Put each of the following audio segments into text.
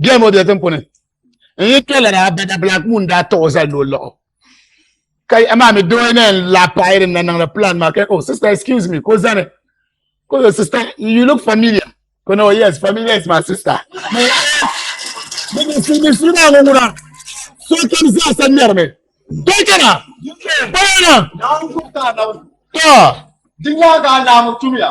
bia ŋɔ bia tinkuni n yi tɔla daa bada black moon daa taɣi o zali ni o laɣi ka amaa mi doo na yɛn la paɣi din na niŋdi plan maa ka oh sister excuse me ka o zani ka o sister you look familiar ka o na yes familiar is my sister musulmi maa ŋɔ ŋuna so kam zaa sa ŋmɛri mi dɔn kana bayana tɔ di nyaaga alamu tumiya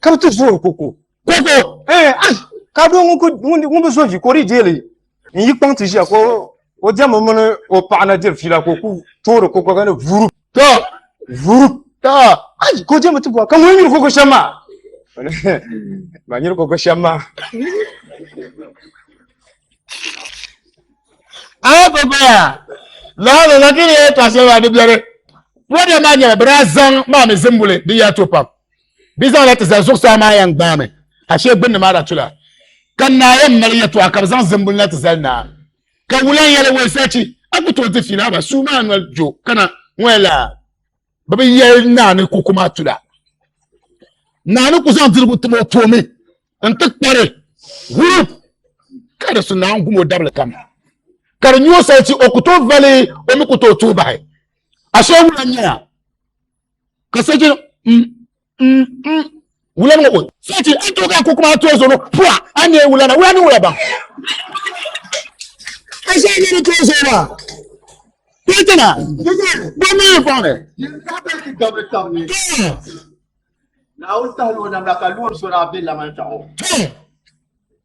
ka bi ti zooi koko koko eh, ah, ka doo ŋun bi zooi ka o di deeli n yi kpaŋ ti ʒiya ka o diɛmmi mini o paɣa na diri fiila ka o ku toori koko ka ni vuurug to vuurug to ayi ka o diɛmmi ti bɔra ka ŋun nyiri koko shɛm maa ma nyiri koko shɛm maa aya pa paya laa la lakiri ya ka sai wa dibiyare program ma nyɛla bira zaŋ maa mi zimbuli di ya to pam bi zaŋ la ti zali zuɣusaa maa yan gbaa mi ashe gbunni maa da tula ka naa yan mali ya to a ka bi zaŋ zimbuli na ti zali naa ka wulan yɛli wai sachi a ku tooi ti fi naa ba suu maa noli jo kana ŋɔ la bi bi yɛli naa ni ku kuma tula naa ni ku zaŋ dirigu tim o toomi n ti kpari hurup ka di su naan gum o dabili kam ka di nyɛ o salisi o ku tooi vali o mi ku tooi tuhi bahi ashe wula nyɛla ka sɛchi wula ŋɔ o sɛchi a tooi ka a ko kuma a tooi zoro pua a nyɛ wula na wula ni wula baŋ ashe a nyɛ ni tooi zora Petina, bɔmi yi fɔŋni. Naawuni tahila o namda ka loori so daa be laman kpɛɣu.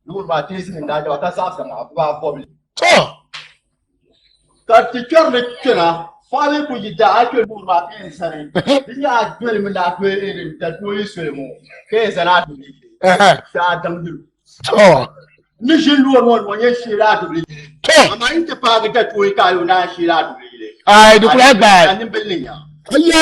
Loori maa teesi ni daa jɛba ka zaɣisi maa baa bɔbi. Ka ti kpɛri ni kpɛna fali ku yi daa a kpɛ loori maa ka yɛn sani di nyɛ a doli mi daa kpɛ erin da kpɛ yi soli ŋɔ ka yɛn zani a doli daa damdi lu. Ni ʒi loori ŋɔ ŋɔ nyɛ sheeri a doli yili. Amaa yi ti paagi da kpɛ yi ka a yo daa sheeri a doli yili. Ayi di kula gbaai. Ka nimbili ni nya. Aya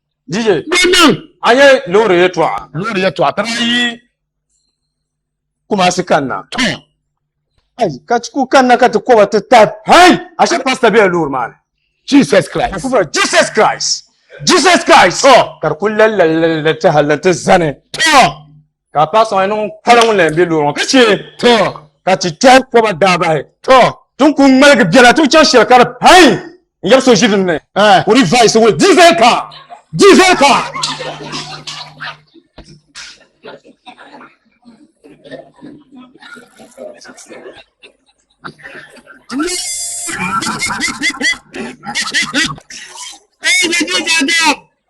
Dije. Bɛnniŋ. A yɛ loori yɛtɔɣa. Loori yɛtɔɣa tara ayi Kumasi kanna. Tɔ. Ayi ka ti ku kanna ka ti kɔba ti ta hɛi ashe pasta bɛla loori maa ni. Jesus Christ. Ka fura Jesus Christ. Jesus Christ. Tɔ. Ka di ku lalilalilali ti hali ni ti zani. Tɔ. ka a paɣa sɔŋ niŋ kpala ŋun la yɛn bɛ loori ŋɔ ka chɛ to ka ti kpɛhi kɔba daabahi to ti ni ku ŋmaligi biɛla ti chaŋ shɛli ka di pain n yɛbi so ʒi din ni eh. kuri vaisi wuli dizel ka dizel ka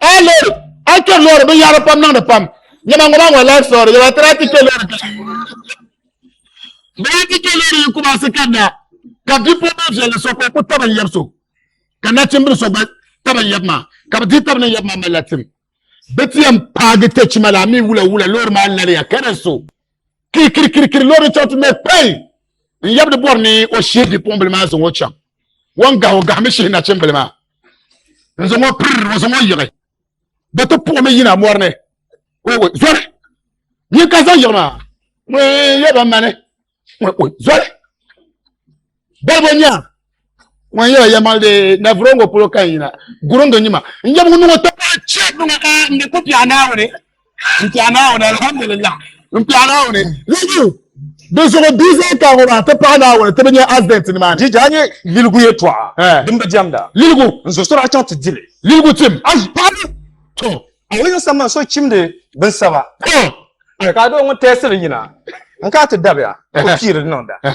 a lori a kpɛ lori binyɛri pam niŋdi pam nyɛma ŋɔ maa ŋɔ life story yɛba tira ti kpɛ lori baa ti kpɛ lori yi kuma si kanna ka bipuɣibil viɛlli so ka o ku tabi n yɛbi so ka nachimbili so gba tabi n yɛbi maa ka bi di tabi ni yɛbi maa malila tim bi ti yɛn paagi kpɛ chima la mi wula wula lori maa lariya ka di so kirikirikirikiri lori chɛŋ ti mɛ kpɛi n yɛbi di bɔri ni o shee bipuɣimbili maa zaŋ o chaŋ wan gahi o gahimi shihi nachimbili maa n zaŋ o piri n zaŋ o yiɣi bi ti puɣi mi yina mɔri ni zoli nyin ka zaŋ yiɣi maa ŋun yɛ ban mani zoli balibo nya ŋun yɛ yɛ mali de na vuro ŋo polo kan yina guringi nyima n yɛm ŋun niŋo tɔpaa chɛp ŋa ka n di ko biɛɣu naawuni n kpɛ Naawuni alhamdulillah n kpɛ Naawuni ligiyu di zuɣu bia zaa ka ŋɔ maa ti pahi Naawuni ti bi nyɛ accident nimaani Jija a nyɛ liligu yɛtɔɣa eh. din bi diɛmda liligu n zo sɔri a chaŋ ti dili liligu tim a paɣaba to a yi yiŋ sambani so chimdi bin saba eh. ka a doo ŋun tɛɛsiri yina n ka ti dabiya o piiri niŋda eh.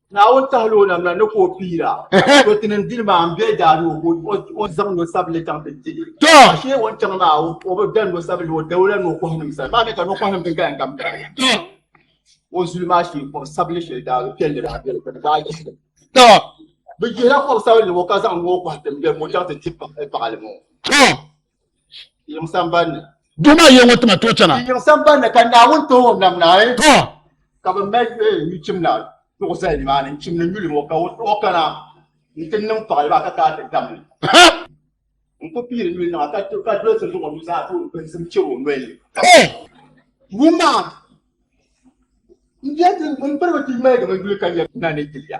Naawuni tahila o namla ni ka o piira to ti nin dini maa n bɛ daa ni o zaŋ no sabili chaŋ ti dili a shee o ni chaŋ maa o bi da no sabili o dawula ni o kɔhi nim sani maa mi ka no kɔhi nim din kaya kam kaya o zuli maa shee kɔbi sabili shɛli daa piɛlli daa bɛli ka daa yihili bi jihila kɔbi sabili ŋɔ ka zaŋ ŋɔ kɔhi tiŋ bɛri ŋɔ chaŋ ti ti paɣali ŋɔ duma yiŋ ŋɔ tima tooi chana ka bi mali eh, nyu chimda duɣu zali nimaani n chimdi nyuli ŋɔ ka o kana n ti niŋ paɣali maa ka kaa ti damli n ku piiri nyuli niŋa ka dolisi zuɣu nu zaa tooi binsim chɛ o noli wuma n bɛ n piribi ti mali di mi yuli ka nyɛ na ni tiliya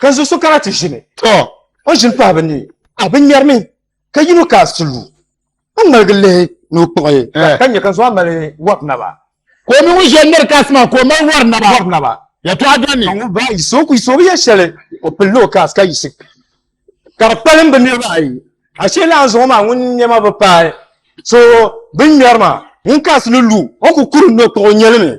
Ka zo so kana ti ʒini. Tɔ! O ʒini pahi bɛ ni, a bi ŋmɛri mi, ka yino ka a si lu, a ŋmaligi lihi ni o kpuɣi. Ka nya ka zo a mali wɔri naba. Ka o mi ŋun ʒe n-miri kaasi maa ka o mali wɔri naba. Wɔri naba. Yɛtɔɣa dɔni ni. Ka ŋun baa yiɣisi o ku yiɣisi o bi yɛ shɛli, o pilila o kaasi ka yiɣisi ka di kpalim bɛ niriba ayi. Ashee lala zuŋɔ maa ŋun nɛma bi paai so bɛ ni ŋmɛri maa, ŋun kaasi ni lu, o ku kuri ni o kpuɣi o nyɛlimi.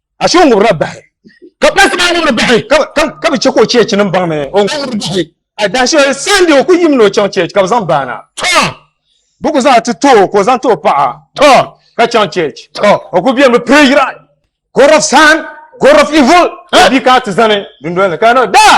ashe o ŋubirila bahi ka kpahisi maa ŋubiri bahi ka bi chɛ ka o cheechi ni baŋ ni o ŋubiri bahi adashi sandi o ku yim ni o chaŋ cheechi ka bi zaŋ baana to bi ku zaŋ ti too ka o zaŋ ti o paɣa to ka chaŋ cheechi to o ku bɛn bi pire yira god of sun god of evil bi ka ti zani dundoli ni ka no daa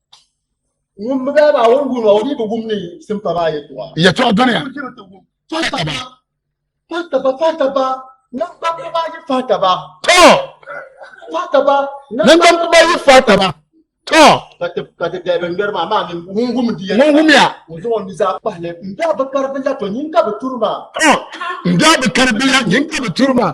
ŋun bi daa maa ŋun guni o ni bi gum ni simpa maa yɛtɔɣa yɛtɔɣa duniya faataba faataba faataba ninkpambi maa yi faataba to faataba ninkpambi maa yi faataba to ka ti ka ti dɛbi ŋmɛri maa maa ŋun gum di yɛtɔɣa ŋun gumiya o zaŋ o ni zaa pahili n daa bi kari bi la to nyin ka bi turi maa to n daa bi kari bi la nyin ka bi turi maa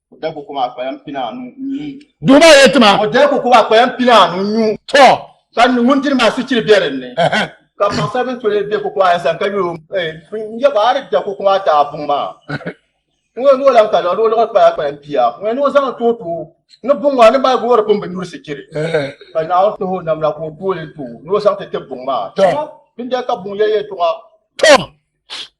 O da koko maa kpayan pina anu nyu. Duhi maa yɛn tima. O da koko maa kpayan pina anu nyu. Tɔ. Ka ŋun diri maa suchiri bɛ dinni. Ka paɣasari bini tole bɛ koko maa yɛn sani ka yuli o n yɛ ba a ni da koko maa daa buŋ maa. N yɛn ni o lan ka lɔɣi lɔɣi kpaya kpayan pia. N yɛn ni o zaŋ too too ni buŋ maa ni mali goori pun bi nyuri sichiri. Ka Naawuni tuhi o namla ka o tooli n too ni o zaŋ ti tib buŋ maa. Tɔ. Bindɛli ka buŋ yɛli yɛtɔɣa. Tɔ.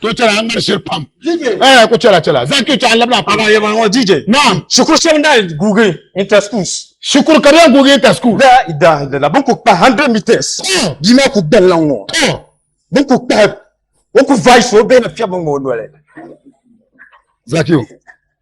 to chɛla ŋmari shiri pam eh ku chɛla chɛla zaŋ kpi chɛɣu labina pam Ana yɛba ŋɔ DJ. naam Shikuru shɛba n daa guugi inter schools. shikuru ka di yɛn guugi inter school La ilaha illallah bin ku kpahi 100 meters Oh. bia maa ku gbali la n ŋɔ to bin ku kpahi o ku vice o bɛ na fiɛbi n ŋɔ o noli. Zakiyu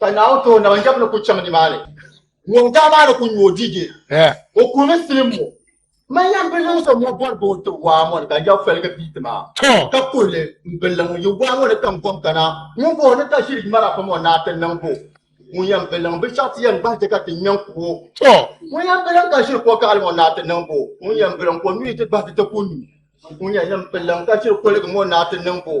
Ka Naawuni ti o naba n-jɛb ni ku chaŋ nimaani, ŋun daa maa ni ku nyu o diige. O kurimi silim ŋɔ, Man yɛn bi niŋ so ŋɔ bɔrigu n-ti waa ŋɔ ni ka jɛb fɛligi pii ti ma, ka kuhi li, M billa ŋun yi waa ŋɔ ni kam gom kana, ŋun bɔh o ni ka ʒiri yuma na pam ŋɔ naa ti niŋ ba o? Ŋun yɛn bi liŋ binshɛɣu ti yɛn gbahi chɛ ka ti nya n-ku o? Ŋun yɛn bi liŋ ka ʒiri kɔgaɣili ŋɔ naa ti niŋ ba o? Ŋun yɛn bi liŋ ka o nuhi ti gbahi ti ti ku nyu? Ŋun yɛn bi liŋ ka ʒiri koligi ŋɔ naa ti niŋ ba o?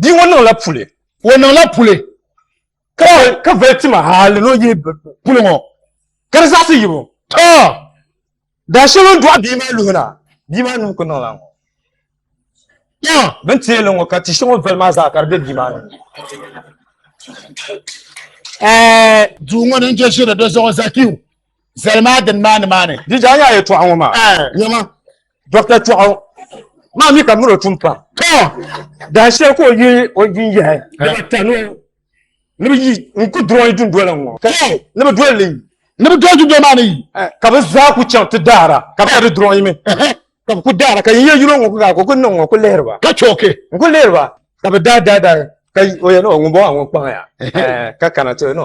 Bia ŋɔ niŋla puli. O niŋla puli ka ka vali tima hali ni o yihi puli ŋɔ ka di zaɣisi yibu. Too! Daa shɛli o ni dɔɣi bia maa luhi na, bia maa nuu ku niŋla ŋɔ. Too! Bɛ ni teei li ŋɔ ka ti shɛŋa o vali maa zaa ka di be bia maa nuu ni. Ɛɛh! Duu ŋɔ ni n-je ʒiri di zuɣu Zakiu zali maa dini maa nimaani? Di daa yaa yɛtɔɣa ŋɔ maa? Ɛɛh! Nyama! dɔkta chɔɣu maa mi ka muro tum pam to daa shɛli ka o yi o yi yahi dama tanu ni bi yi n ku durɔyi dundola ŋɔ to ni bi doli li ni bi doli dundola maa ni yi eh, ka bi zaa ku chaŋ ti daara ka bi di durɔyi mi ka bi ku daara ka yin yɛ yino ŋɔ ku gaa ka o ku niŋ ŋɔ ku lihiri ba ka chɔki n ku lihiri ba ka bi daa daa daa ka o yɛ nɔ ŋun bɔ a ŋun kpaŋ ya eh, ka kana to yɛ nɔ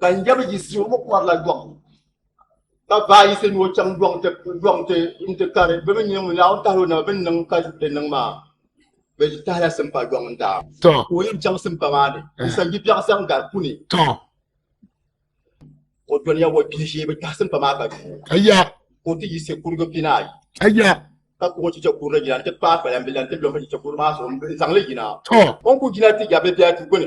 ka n jɛbi yisi o mi kɔrila dɔŋ ka baa yisi ni o chaŋ dɔŋ ti dɔŋ ti n ti kari bi mi nyɛ ŋun laahu tahali o naba bi niŋ ka di niŋ maa bi tahila simpa dɔŋ n daa ka o yɛn chaŋ simpa maa ni n san bi biɛɣu saŋ gari kuni o dɔniya o bihi shee bi tahi simpa maa ka duu o ti yisi kurigu pinaayi ka kuɣu chicha kurili yina n ti paai kpalambilan ti lɔhi chicha kuri maa zuɣu n zaŋli yina o ni ku jina ti ya bi biɛhi ti gbuni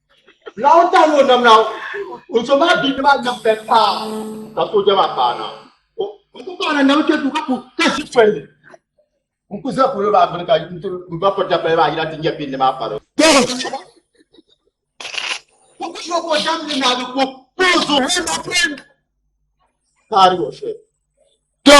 Naawuni tahi ni o nam na o so maa bia maa nam bɛ paa ka sooja maa paana n ku paana nam kpɛ du ka ku ka ʒi pɛlli n ku ʒɛ polo maa gbuni ka n ba pɔri dapɛli maa yina ti nyɛ bindi maa paro Tɔ